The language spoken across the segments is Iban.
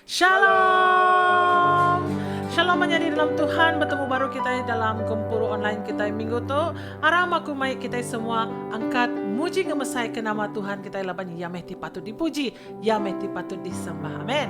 Shalom. Shalom menyadi dalam Tuhan betemu baru kitai dalam gempuru online kitai minggu tu. Aram aku mai kitai semua angkat muji ngemesai ke nama Tuhan kitai laban iya meh ti patut dipuji, iya meh ti patut disembah. Amen.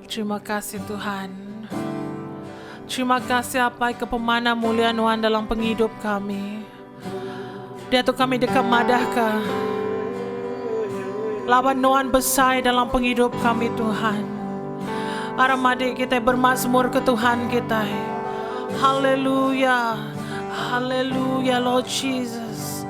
Terima kasih Tuhan. Terima kasih Apai ke pemanah mulia Nuan dalam pengidup kami. Dia tu kami deka madahka. Laban Nuan besai dalam pengidup kami Tuhan. Aram adik kita bermazmur ke Tuhan kita. Haleluya. Haleluya Lord Jesus.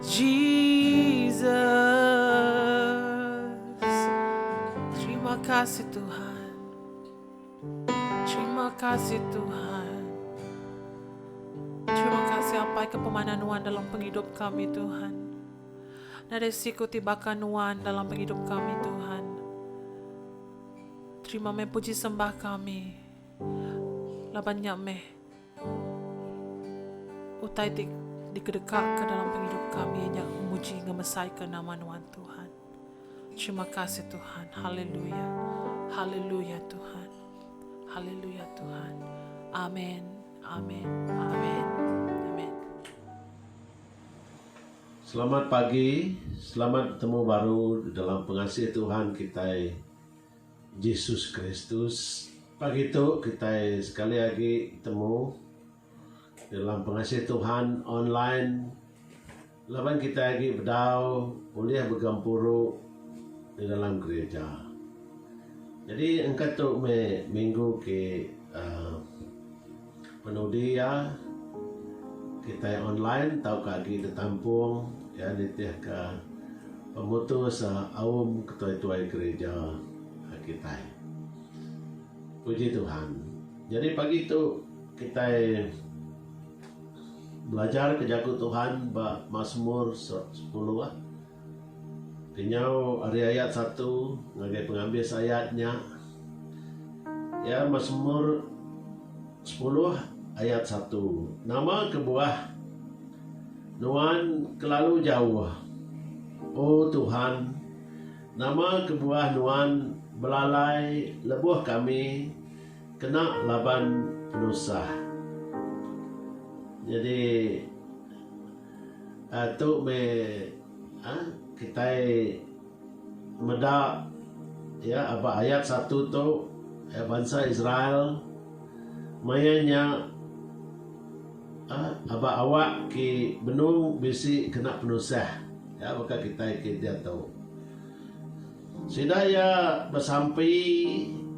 Jesus Terima kasih Tuhan Terima kasih Tuhan Terima kasih apai ke pemana nuan dalam pengidup kami Tuhan Nadai siku ti baka nuan dalam pengidup kami Tuhan Terima meh puji sembah kami Laban nya meh Utai ti dikedekaka dalam pengidup kami iya nya muji ngemesaika nama Nuan Tuhan. Terima kasih Tuhan. Haleluya. Haleluya Tuhan. Haleluya Tuhan. Amen. Amen. Amen. Amen. Selamat pagi, selamat betemu baru dalam pengasih Tuhan kitai. Jesus Kristus. Pagi tu kitai sekali agi betemu dalam Pengasih Tuhan online laban kitai agi bedau ulih begempuru di dalam gerija. Jadi engka tu meh minggu ke uhh. Penudi iya, kitai online tauka agi ditampung iya nitihka pemutus aum ketuai-tuai gerija kitai. Puji Tuhan, nyadi pagi tu kitai belajarka jaku Tuhan ba Masmur sepuluh. Kenyau ari ayat satu ngagai pengabis ayat nya, iya Masmur sepuluh ayat satu, Nama kebuah Nuan kelalu jauh, O Tuhan? Nama kebuah Nuan belalai lebuh kami kena laban penusah? Nyadi. Tu meh kitai meda ba ayat satu tu bansa Israel maya nya aba awak ke benung bisi kena penusah baka kitai ke diatu. Sida iya besampi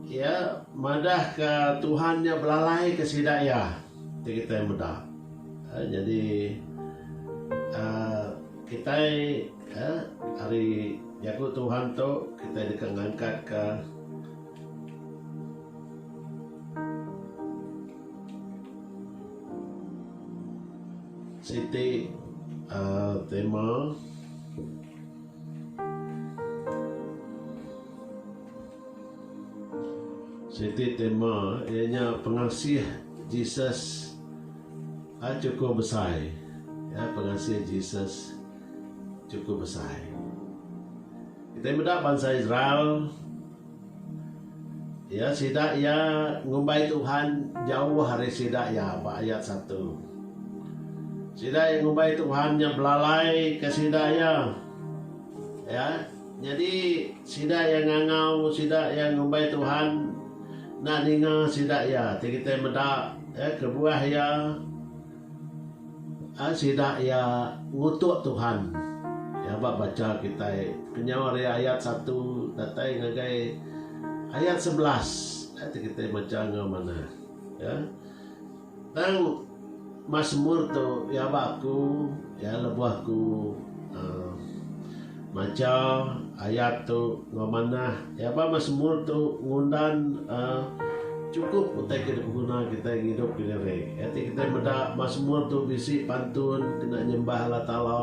iya madah ka Tuhan nya belalai ka sida iya ti kitai meda. Nyadi kitai ari jaku Tuhan tu kitai deka ngangkat ka siti tema. Siti tema iya nya pengasih Jesus hak chukup besai ya pengasih Jesus chukup besai. Kitai meda bansa Israel. Iya sida iya ngumbai Tuhan jauh ari sida iya ba ayat satu. Sida iya ngumbai Tuhan nya belalai ke sida iya. Iya nyadi sida iya ngangau sida iya ngumbai Tuhan enda ninga sida iya ti kitai meda kebuah iya. Ai sida iya ngutuk Tuhan. Iya ba bacha kitai kenyau ari ayat satu datai ngagai ayat sebelas. Ai ti kitai macha enggau manah. Ya. Tang Masmur tu iya ba aku, iya lebuh aku uhh. Macha ayat tu enggau manah iya ba Masmur tu ngundan chukup utai ke dipeguna kitai ngidup ke diri. Iya ti kitai meda Masmur tu bisi pantun kena nyembah Allah Taala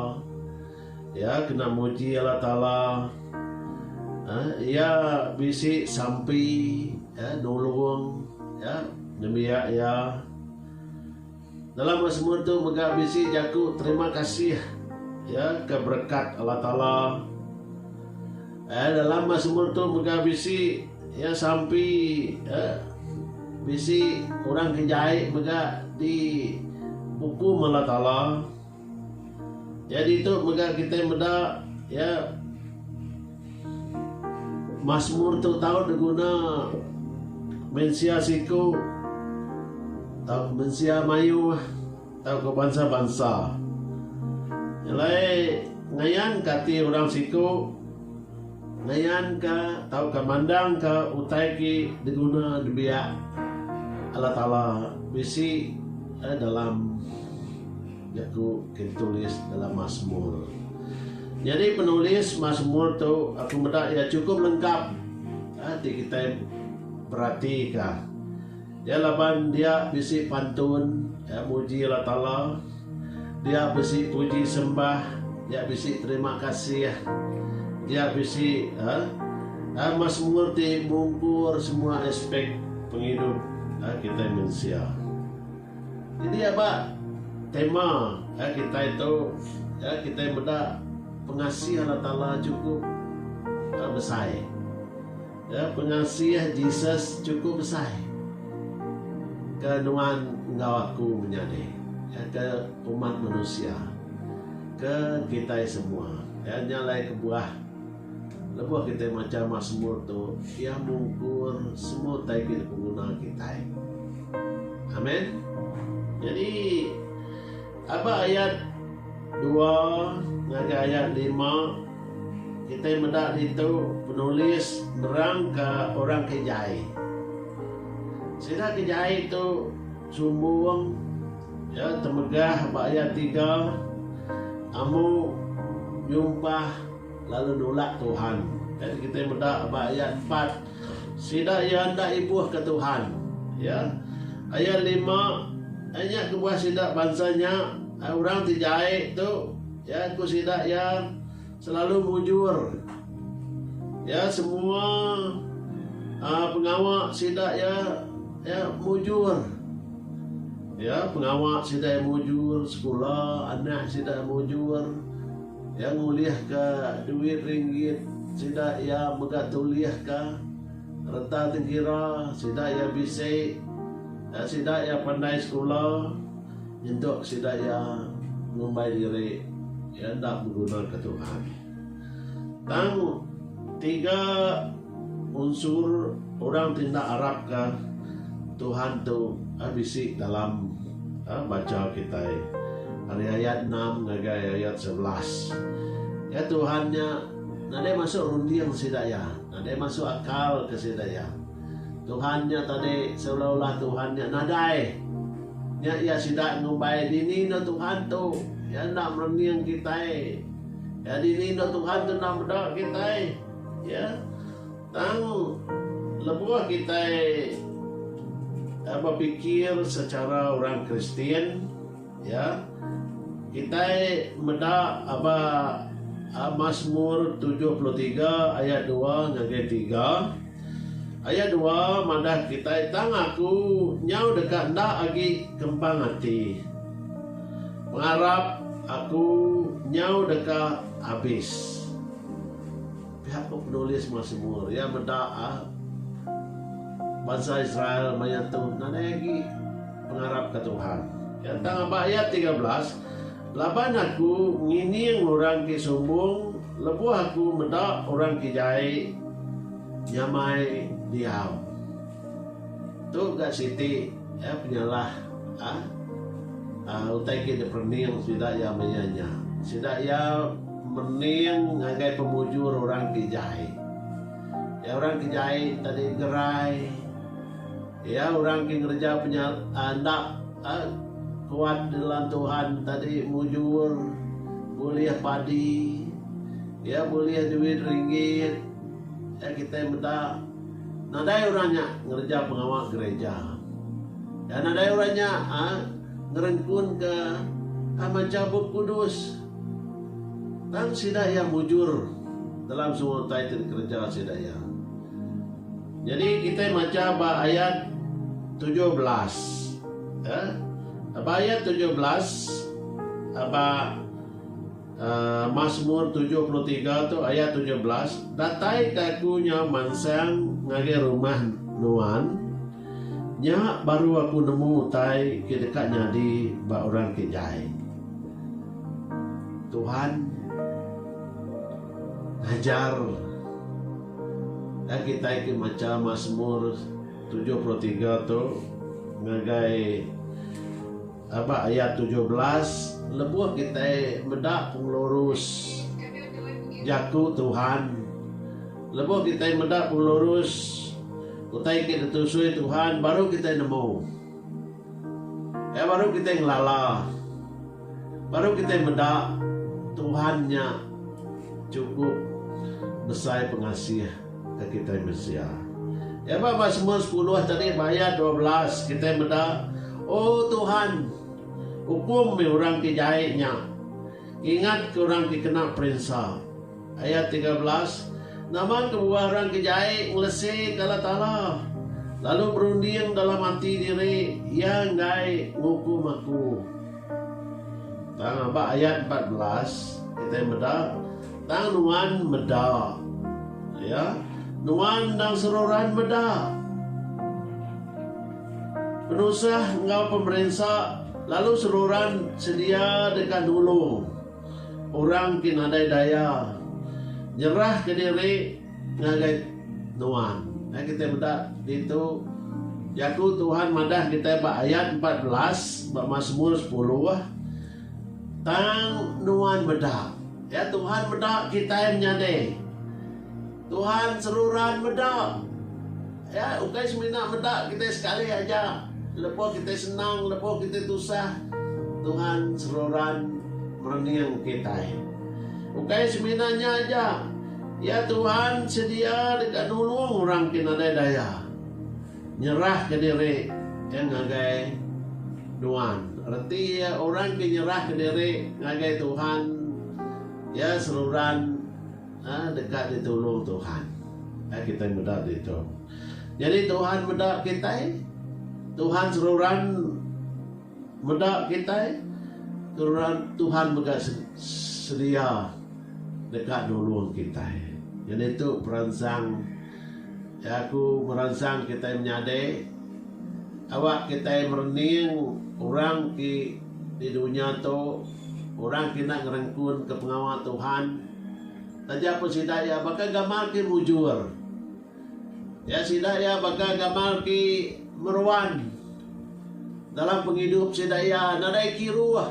iya kena muji Allah Taala iya bisi sampi nulung nembiak iya. Dalam meh semua tu mega bisi jaku terima kasih ya ke berekat Allah Taala. Eh dalam meh semua tu mega bisi ya sampi ya bisi orang ke jai mega di bukum Allah Taala. Nyadi tu mega kitai meda iya Masmur tu tau diguna mensia siku tauka mensia mayuh tauka bansa-bansa. Nyelai ngayanka ati orang siku. Ngayanka tauka mandangka utai ti diguna dibiak Allah Taala bisi dalam jaku ti ditulis dalam Masmur. Nyadi penulis Masmur tu aku meda iya chukup lengkap ti kitai beratika. Iya laban dia bisi pantun iya muji Allah Taala, dia bisi puji sembah, dia bisi terima kasih, dia bisi uhh masmur ti mungkur semua aspek pengidup kitai mensia. Jadi aba tema kitai tu kitai meda pengasih Allah Taala chukup besai. Pengasih Jesus chukup besai ke nuan enggau aku menyadi ke umat manusia, ke kitai semua. Nya alai kebuah lebuh kitai macha Masmur tu, iya mungkur semua utai ke dipenguna kitai. Amen. Nyadi Aba ayat dua ngagai ayat lima, kitai meda ditu penulis nerangka orang ke jai. Sida ke jai tu sumbung, iya temegah ba ayat tiga, Amu nyumpah lalu nulak Tuhan. Kitai meda ba ayat empat. Sida iya enda ibuhka Tuhan. Ya. Ayat lima, Ai nya kebuah sida bansa nya, ai orang ti jai tu, ya, ku sida iya, selalu mujur. Ya, semua uh, pengawa sida iya, ya, mujur. Ya, pengawa sida iya mujur, sekula anak sida iya mujur. Iya ngulihka duit ringgit sida iya mega tulihka reta tengkira sida iya bisi enggau sida iya pandai sekula nyentuk sida iya ngumbai diri iya enda begunaka Tuhan. Tang tiga. Unsur orang ti enda arapka Tuhan tu bisi dalam banca kitai. Ari ayat enam ngagai ayat sebelas, Iya, Tuhan nya, nadai masuk runding sida iya, nadai masuk akal ke sida iya. Tuhan nya tadi seulah-ulah Tuhan nya nadai. Nya iya sida ngumbai, Dini enda Tuhan tu? Iya enda merunding kitai. Iya, dini enda Tuhan tu enda meda kitai? Iya, tang lebuh kitai bepikir secara orang Kristian, iya, kitai meda ba Masmur tujuh puluh tiga ayat dua ngagai tiga. Ayat dua madah kitai, Tang aku nyau deka enda agi kempang ati. Pengarap aku nyau deka abis. Pihak ke penulis meh semur iya meda bansa Israel maya tu nadai agi pengarap ke Tuhan. Iya tang aba ayat tiga belas, Laban Aku ngining orang ti sumbung lebuh Aku meda orang ti jai nyamai diau. Tu ga siti penyalah utai ke diperening sida iya maya nya. Sida iya. Mening ngagai pemujur orang ti jai. Iya orang ti jai tadi gerai. Iya orang ti ngereja penyalah enda kuat di dalam Tuhan tadi mujur bulih padi. Iya bulih duit ringgit. Iya kitai meda nadai orang nya ngereja pengawa gereja. Nadai orang nya ngerengkunka mancha Bup Kudus. Tang sida iya mujur dalam semua utai ti dikereja sida iya. Nyadi kitai macha ba ayat tujuh belas. Aa ba ayat tujuh belas ba aa Masmur tujuh puluh tiga tu ayat tujuh belas, Datai ka aku nyau mansang ngagai rumah nuan, nya baru aku nemu utai ke deka nyadi ba orang ke jai. Tuhan ngajar ka kitai ti macha Masmur tujuh puluh tiga tu ngagai aba ayat tujuh belas lebuh kitai meda pengelurus jaku Tuhan lebuh kitai meda pengelurus utai ke ditusui Tuhan baru kitai nemu. Nya baru kitai ngelala. Baru kitai meda Tuhan nya chukup besai pengasih ke kitai mensia. Nya ba Masmur sepuluh tadi ba ayat dua belas kitai meda, O Tuhan, ukum meh orang ti jai nya. Ngingatka orang ti kena perinsa. Ayat tiga belas, Nama kebuah orang ke jai ngeleseka Allah Taala, lalu berunding dalam ati diri, Iya enggai ngukum aku? Tang ba ayat empat belas, kitai meda, Tang nuan meda, ya, nuan endang seruran meda, penusah enggau pemerinsa lalu seruran sedia deka nulung. Orang ti nadai daya nyerahka diri ngagai Nuan. Meh kitai meda ditu jaku Tuhan madah kitai ba ayat empat belas ba Masmur sepuluh, Tang Nuan meda. Ya, Tuhan meda kitai menyadi. Tuhan seruran meda. Ya, ukai semina meda kitai sekali aja. Lebuh kitai senang, lebuh kitai tusah, Tuhan seruran merening kitai. Ukai semina nya aja, ya Tuhan sedia deka nulung orang ke nadai daya nyerahka diri ke ngagai Nuan. Reti iya orang ke nyerahka diri ngagai Tuhan, iya seruran Aaa deka ditulung Tuhan. Ai kitai meda ditu. Nyadi Tuhan meda kitai, Tuhan seruran meda kitai, seruran Tuhan mega sedia deka nulung kitai. Nyadi tu peransang. Iya ku meransang kitai menyadi awak kitai merening orang ti di dunya tu orang ti enda ngerengkunka pengawa Tuhan taja pun sida iya baka gamal ti mujur. Iya sida iya baka gamal ti meruan dalam pengidup sida iya nadai kiruh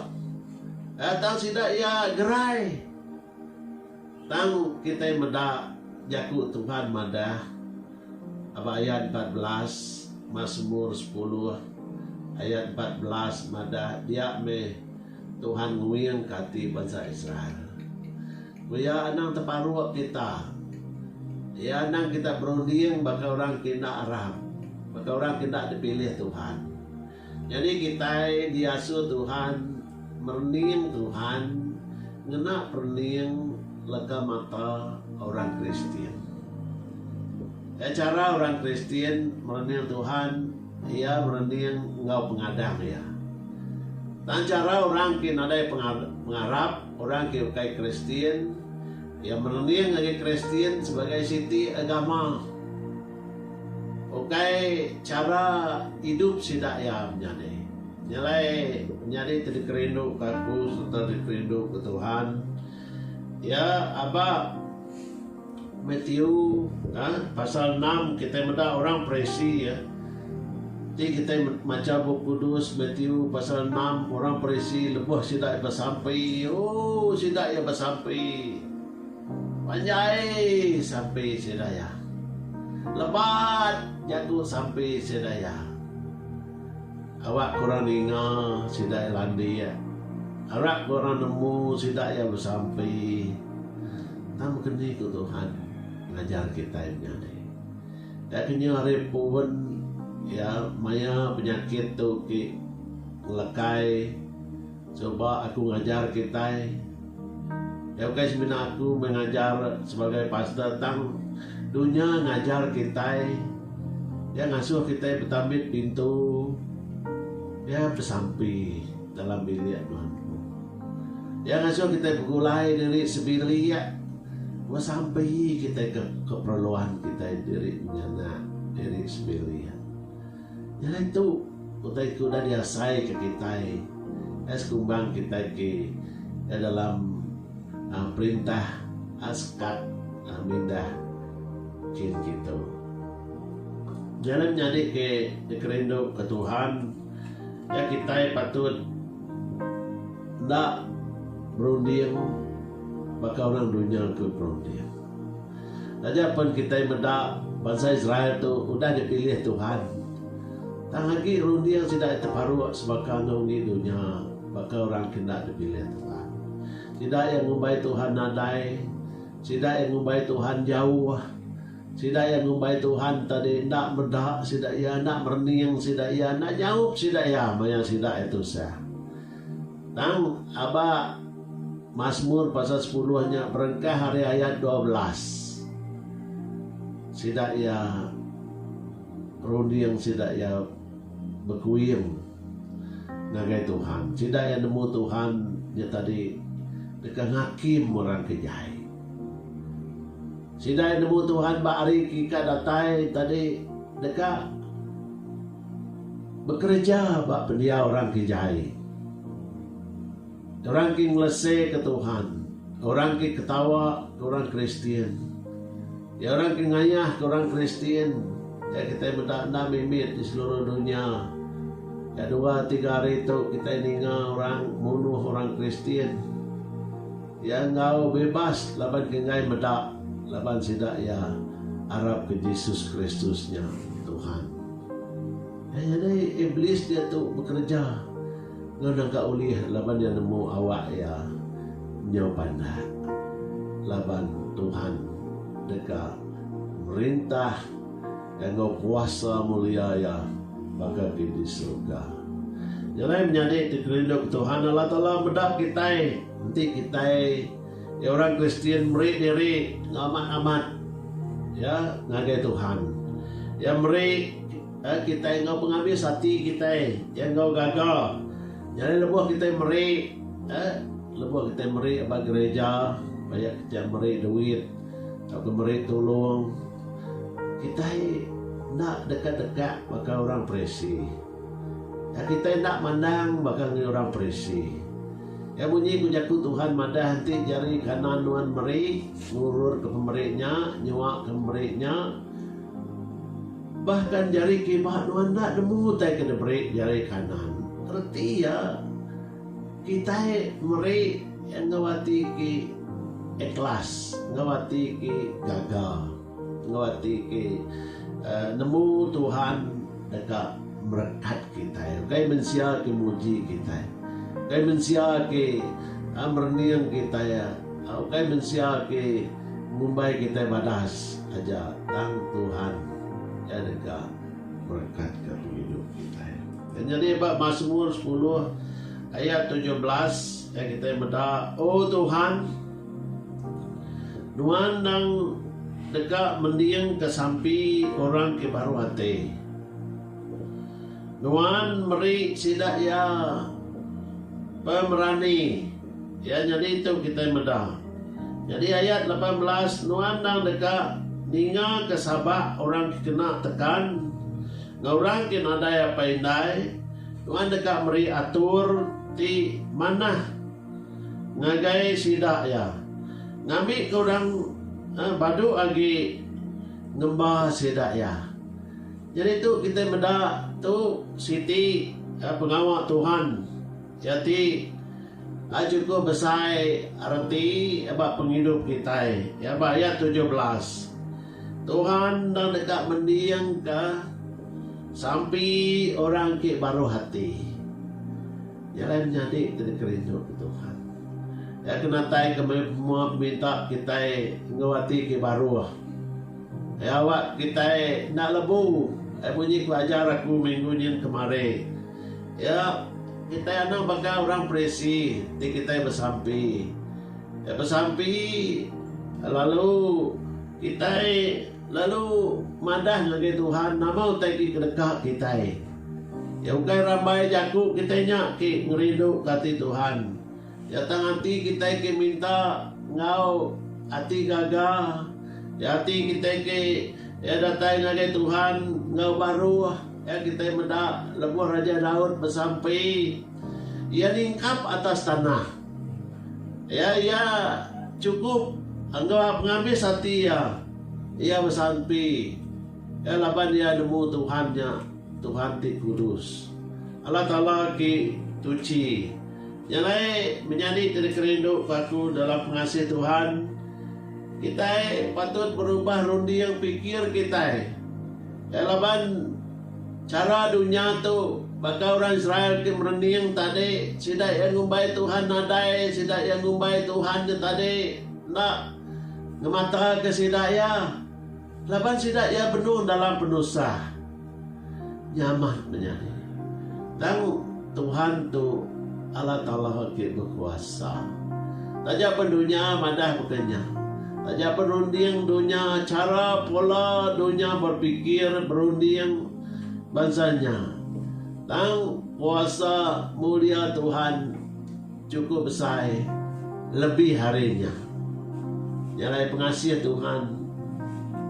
tang sida iya gerai. Tang kitai meda jaku Tuhan madah ba ayat empat belas, Masmur sepuluh ayat empat belas madah dia meh Tuhan nguingka ati bansa Israel. Ku iya anang teparuk kita. Iya anang kita berunding baka orang ke enda arap, baka orang ke enda dipilih Tuhan. Nyadi kitai diasu Tuhan merening Tuhan ngena perening leka mata orang Kristian. Ka chara orang Kristian merening Tuhan iya merening enggau pengadang iya. Tang chara orang ke nadai pengarap, orang ke ukai Kristian, iya merening agi Kristian sebagai siti agama. Ukai chara idup sida iya menyadi. Nyelai menyadi ti dikerinduka aku sereta dikerinduka Tuhan iya aba Matthew a pasal enam kitai meda orang Parisi a ti kitai macha Bup Kudus Matthew pasal enam orang Parisi lebuh sida iya besampi ooh sida iya besampi. Panjai sampi Sri Daya. Lebat jaku sampi Sri Daya. Awak ke orang ninga sida iya landik. Arap ke orang nemu sida iya besampi. Tang meh ke ni ku Tuhan ngajar kitai menya ni. Nya ke nyau hari puwen iya maya penyakit tu ti ngelekai. Suba aku ngajar kitai. Nya ukai semina aku meh ngajar sebagai pastor tang dunya ngajar kitai. Iya ngasuh kitai betambit pintu. Iya besampi dalam bilik nuan ku. Iya ngasuh kitai begulai diri sebilik. Meh sampi kitai ke keperluan kitai diri menyanak diri sebilik. Nyadi tu utai ke udah diasaika kitai ai sekumbang kitai ti da dalam perintah Askat mindah kin kitu. Nyadi menyadi ke dikerinduka Tuhan iya kitai patut enda berunding baka orang dunya ke berunding. Taja pen kitai meda bansa Israel tu udah dipilih Tuhan, tang agi runding sida iya teparuk sebaka enggau enggi dunya baka orang ke enda dipilih Tuhan. Sida iya ngumbai Tuhan nadai, sida iya ngumbai Tuhan jauh, sida iya ngumbai Tuhan tadi enda meda sida iya, enda merening sida iya, enda nyaup sida iya maya sida iya tusah. Tang aba Masmur pasal sepuluh nya berengkah ari ayat dua belas. Sida iya runding sida iya bekuing ngagai Tuhan. Sida iya nemu Tuhan nya tadi deka ngakim orang ke jai. Sida iya nemu Tuhan ba hari ke ika datai tadi deka. Bekereja ba pendiau orang ke jai. Orang ke ngeleseka Tuhan. Orang ke ketawa ke orang Kristian. Iya orang ke ngayahka orang Kristian iya kitai meda enda mimit di seluruh dunya. Nya dua tiga hari tu kitai ninga orang munuh orang Kristian. Iya enggau bebas laban ngengai meda laban sida iya arapka Jesus Kristus nya Tuhan. Ai nyadi Iblis diatu bekereja enggau naga ulih laban iya nemu awak iya nyau pandak laban Tuhan deka merintah iya enggau kuasa mulia iya baka ke di surga. Nya alai menyadi ti kerinduka Tuhan Allah Taala meda kitai. Enti kitai ti orang Kristian meri diri enggau amat-amat iya ngagai Tuhan, Iya meri kitai enggau pengabis ati kitai, iya enggau gaga. Nyadi lebuh kitai meri, lebuh kitai meri ba gereja, ba iya kitai meri duit tauka meri tulung, kitai enda deka-deka baka orang Parisi. Kitai enda mandang baka ngagai orang Parisi. Iya munyi ku Jaku Tuhan madah enti jari kanan nuan meri, ngururka pemeri nya, nyuaka pemeri nya, bahkan jari kiba nuan enda nemu utai ke diberi jari kanan. Reti iya, kitai meri enggau ati ke ikhlas, enggau ati ke gaga. Enggau ati ke nemu Tuhan deka merekat kitai. Ukai mensia ke muji kitai. Ukai mensia ke merening kitai. Ukai mensia ke ngumbai kitai badas aja tang Tuhan iya deka merekatka pengidup kitai. Nyadi ba Masmur sepuluh ayat tujuh belas kitai meda, O Tuhan, Nuan endang deka mendingka sampi orang ke baru ati. Nuan meri sida iya pemerani. Iya nyadi tu kitai meda. Nyadi ayat lapan belas Nuan endang deka ningaka sabak orang ke kena tekan enggau orang ke nadai apai indai. Nuan deka meri atur ti manah. Ngagai sida iya ngambika orang badu agi ngemba sida iya. Nyadi tu kitai meda tu siti pengawa Tuhan iya ti enda chukup besai reti ba pengidup kitai. Iya ba ayat tujuh belas. Tuhan enda deka mendingka sampi orang ti baruh ati. Nya alai menyadi ti deka rinduka Tuhan. Iya ke natai kemampuan peminta kitai enggau ati ti baruh. Iya awakka kitai enda lebu ai munyi pelajar aku minggu nyin kemari. Iya, kitai anang baka orang Parisi ti kitai besampi. Ke besampi lalu kitai lalu madah ngagai Tuhan nama utai ti kedeka kitai. Iya ukai rambai jaku kitai nya ke ngerinduka ati Tuhan. Iya tang ati kitai ke minta enggau ati gaga. Iya ati kitai ke iya datai ngagai Tuhan enggau baruh iya kitai meda lebuh Raja Daud besampi. Iya nyingkap atas tanah. Iya iya chukup enggau pengabis ati iya. Iya besampi iya laban iya nemu Tuhan nya Tuhan ti kudus. Allah Taala ki tuchi. Nya alai menyadi ti dikerindu ku aku dalam pengasih Tuhan, kitai patut berubah runding pikir kitai. Iya laban. Chara dunya tu, baka orang Israel ti merening tadi, sida iya ngumbai Tuhan nadai, sida iya ngumbai Tuhan nya tadi enda ngemataka sida iya, laban sida iya benung dalam penusah nyaman menyadi. Tang. Tuhan tu Allah Taala ke bekuasa. Taja pen dunya madah baka nya. Taja pen runding dunya chara pola dunya berpikir berunding bansa nya. Tang kuasa mulia Tuhan. Chukup besai lebih ari nya. Nya alai pengasih Tuhan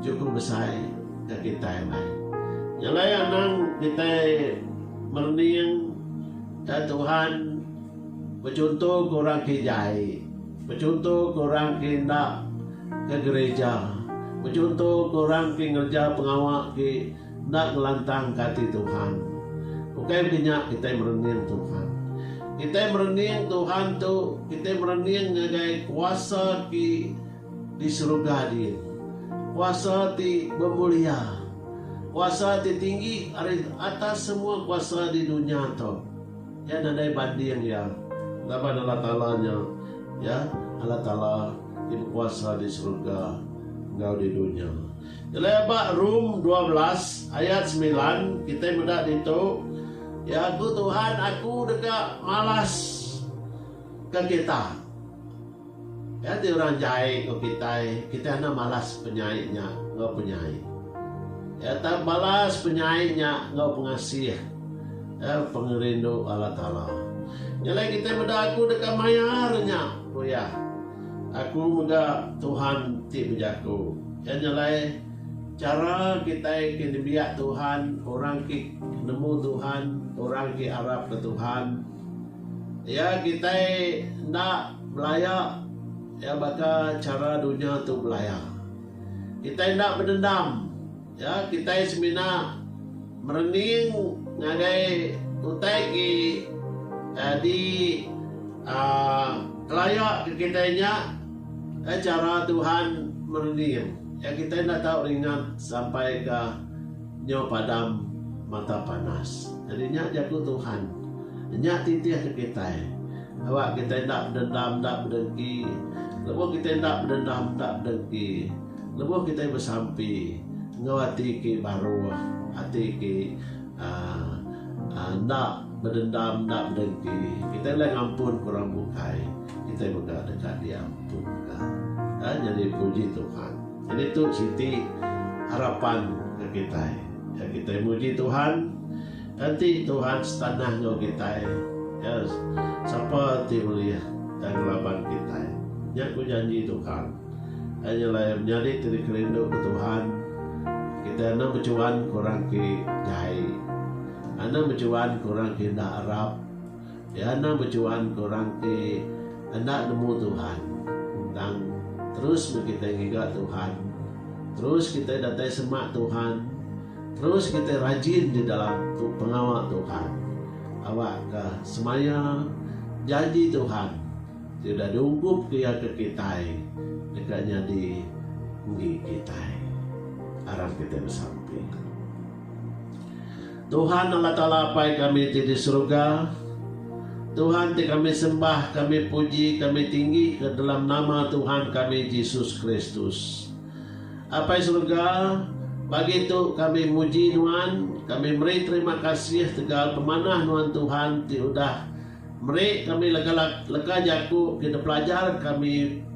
chukup besai ke kitai alai. Nya alai anang kitai merening ka Tuhan bechunto ke orang ke jai, bechunto ke orang ke enda ke gereja, bechunto ke orang ke ngereja pengawa ke Enda ngelantangka ati Tuhan. Ukai meri nya kitai merening Tuhan. Kitai merening Tuhan tu kitai merening ngagai kuasa ti di seruga din. Kuasa ti bemulia. Kuasa ti tinggi ari atas semua kuasa di dunya tu. Iya nadai banding iya laban Allah Taala nya iya Allah Taala ti bekuasa di seruga enggau di dunya. Elai ba Rum dua belas ayat semilan kitai meda ditu, Ya ku Tuhan aku deka malas ka kita. Nya ti orang jai enggau kitai, kitai enda malas penyai nya enggau penyai. Ya tang balas penyai nya enggau pengasih, ya pengerindu Allah Taala. Nya alai kitai meda aku deka mayar nya, ku iya. Aku mega Tuhan ti bejaku. Iya nya alai chara kitai ke nembiak Tuhan, orang ke nemu Tuhan, orang ke arapka Tuhan. Iya kitai enda belaya iya baka chara dunya tu belaya. Kitai enda bedendam. Ya, kitai semina Merening ngagai utai ke di kelaya ke kitai nya eh chara Tuhan merening iya kitai enda tau ringat sampai ka nyo padam mata panas. Jadi nya jaku Tuhan nya titih ke kitai awak kitai enda bedendam enda bedengki lebuh kitai enda bedendam enda bedengki. Lebuh kitai besampi enggau ati ke baruh, ati ke enda bedendam, enda bedengki, kitai ulih ngampunka orang bukai, kitai mega deka diampunka. Nyadi puji Tuhan. Jadi tu siti harapan ke kitai. Kitai muji Tuhan, enti Tuhan setanah enggau kitai, sapa ti ulih ngelaban kitai. Nya ku janji Tuhan. Aja lair nyadi ti dikerindu ke Tuhan, kitai enda bechuan ke orang ti jai. Enda bechuan ke orang ti enda arap. Iya enda bechuan ke orang ti enda nemu Tuhan. Tang, terus meh kitai ngiga Tuhan. Terus kitai datai semak Tuhan. Terus kitai rajin di dalam pengawa Tuhan. Awakka semaya janji Tuhan. Sida diungkup ke iya ke kitai deka nyadi enggi kitai. Aram kitai besampi. Tuhan Allah Taala Apai kami ti di seruga, Tuhan ti kami sembah, kami puji, kami tinggi ka dalam nama Tuhan kami Jesus Kristus. Apai seruga, pagi tu kami muji Nuan, kami meri terima kasih tegal pemanah Nuan Tuhan ti udah Meri kami lega lega jaku ke dipelajar kami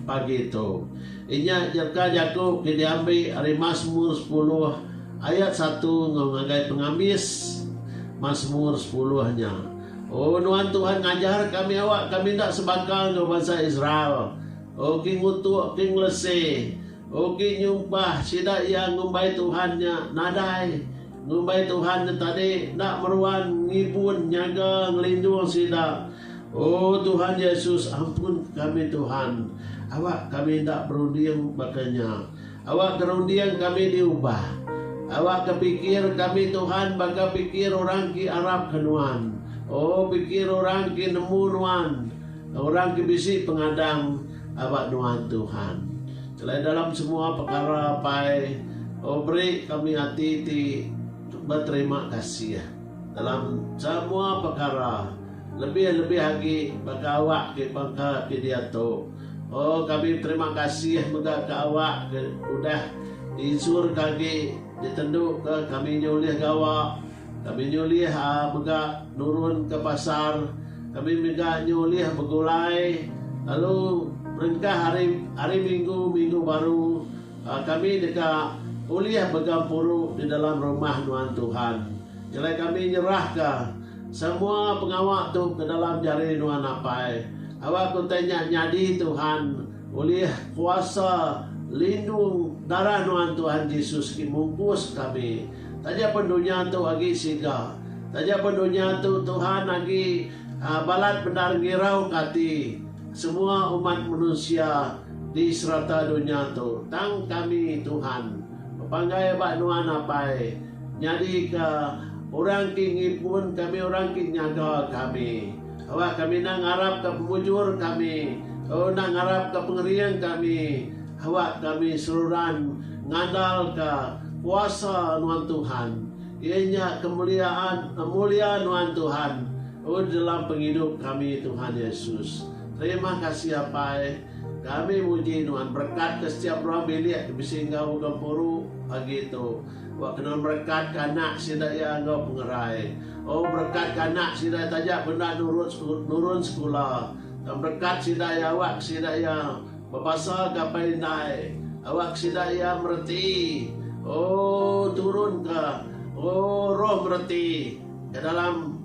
pagi tu. Inya jerka jaku ke diambi ari Masmur sepuluh ayat satu enggau ngagai pengambis Masmur sepuluh nya. O Nuan Tuhan ngajar kami awak kami enda sebaka enggau bansa Israel. Uki ngutuk uki ngelesi. Uki nyumpah sida iya ngumbai Tuhan nya nadai. Ngumbai Tuhan tu tadi enda meruan ngibun nyaga ngelindung sida. Oh Tuhan Jesus ampunka kami Tuhan awak kami enda berunding baka nya. Awak ke runding kami diubah. Awak ke pikir kami Tuhan baka pikir orang ke arap ke Nuan. Oh pikir orang ke nemu Nuan. Orang ke bisi pengadang. Aba nuan Tuhan. Kelai dalam semua pekara pai oh beri kami ati ti beterima kasih dalam semua pekara lebih lebih agi baka awak ke bangka ke diatu oh kami beterima kasih mega ke awak ke udah di insurka agi ditendu ke kami nya ulih gawa Kami nyulih mega nurun ke pasar. Kami mega nyulih begulai lalu perengkah hari hari minggu minggu baru kami deka ulih mega puru di dalam rumah nuan Tuhan. Nyelai kami nyerahka semua pengawa tu ke dalam jari nuan apai. Awak ku utai nya nyadi Tuhan ulih kuasa lindung darah nuan Tuhan Jesus ti mungkus kami. Taja pun dunya tu agi siga. Taja pun dunya tu Tuhan agi balat bendar ngirauka ati semua umat manusia di serata dunya tu. Tang kami, Tuhan, bepanggai ba Nuan Apai nyadika orang ke ngimpun kami, orang ke nyaga kami. Awakka mih enda ngarapka pemujur kami, tau enda ngarapka pengering kami. Awak kami seruran ngandalka kuasa Nuan Tuhan, iya nya kemuliaan mulia Nuan Tuhan udi dalam pengidup kami Tuhan Yesus. Terima kasih Apai, kami muji Nuan berekatka setiap ruang bilik ke bisi enggau uga empuru pagi tu. Awakka Nuan berekatka anak sida iya enggau pengerai. Oh berekatka anak sida taja bendar nurun sekula. Tang berekat sida iya awakka sida iya Bepasal ka pai indai. Awak sida iya mereti. Oh turun ka oh roh mereti ka dalam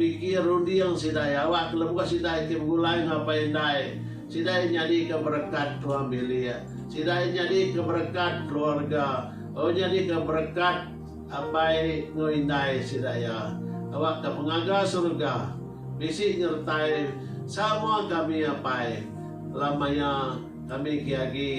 pikir runding sida iya awak ka lebuh sida iti begulai enggau pai indai. Sida iya nyadi ka berekat tuang bilik. Sida iya nyadi ka berekat keluarga. Oh nyadi ka berekat apai enggau indai sida iya. Awak ka pengaga serega. Bisi nyertai samoa kami apai la maya kami ki agi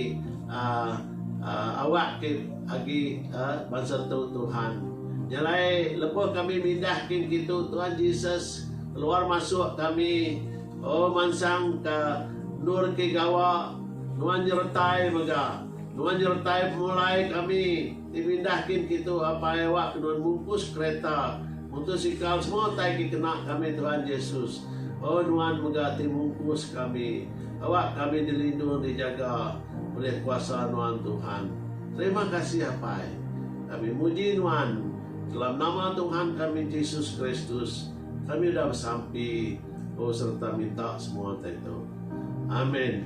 awak ki agi bansa tu Tuhan. Nyalai lebuh kami mindah kin kitu Tuhan Jesus keluar masuk kami oh mansang ka endur ki gawa nuan nyertai mega nuan nyertai pemulai kami. Ti pindah kin kitu apai awak kedun mungkus kereta, mutusikal semua utai ki kena kami Tuhan Jesus. Oh nuan mega ti mungkus kami. Awak kami dilindung dijaga ulih kuasa nuan Tuhan. Terima kasih apai. Kami muji nuan. Dalam nama Tuhan kami Jesus Kristus kami udah besampi oh sereta minta semua utai tu. Amin.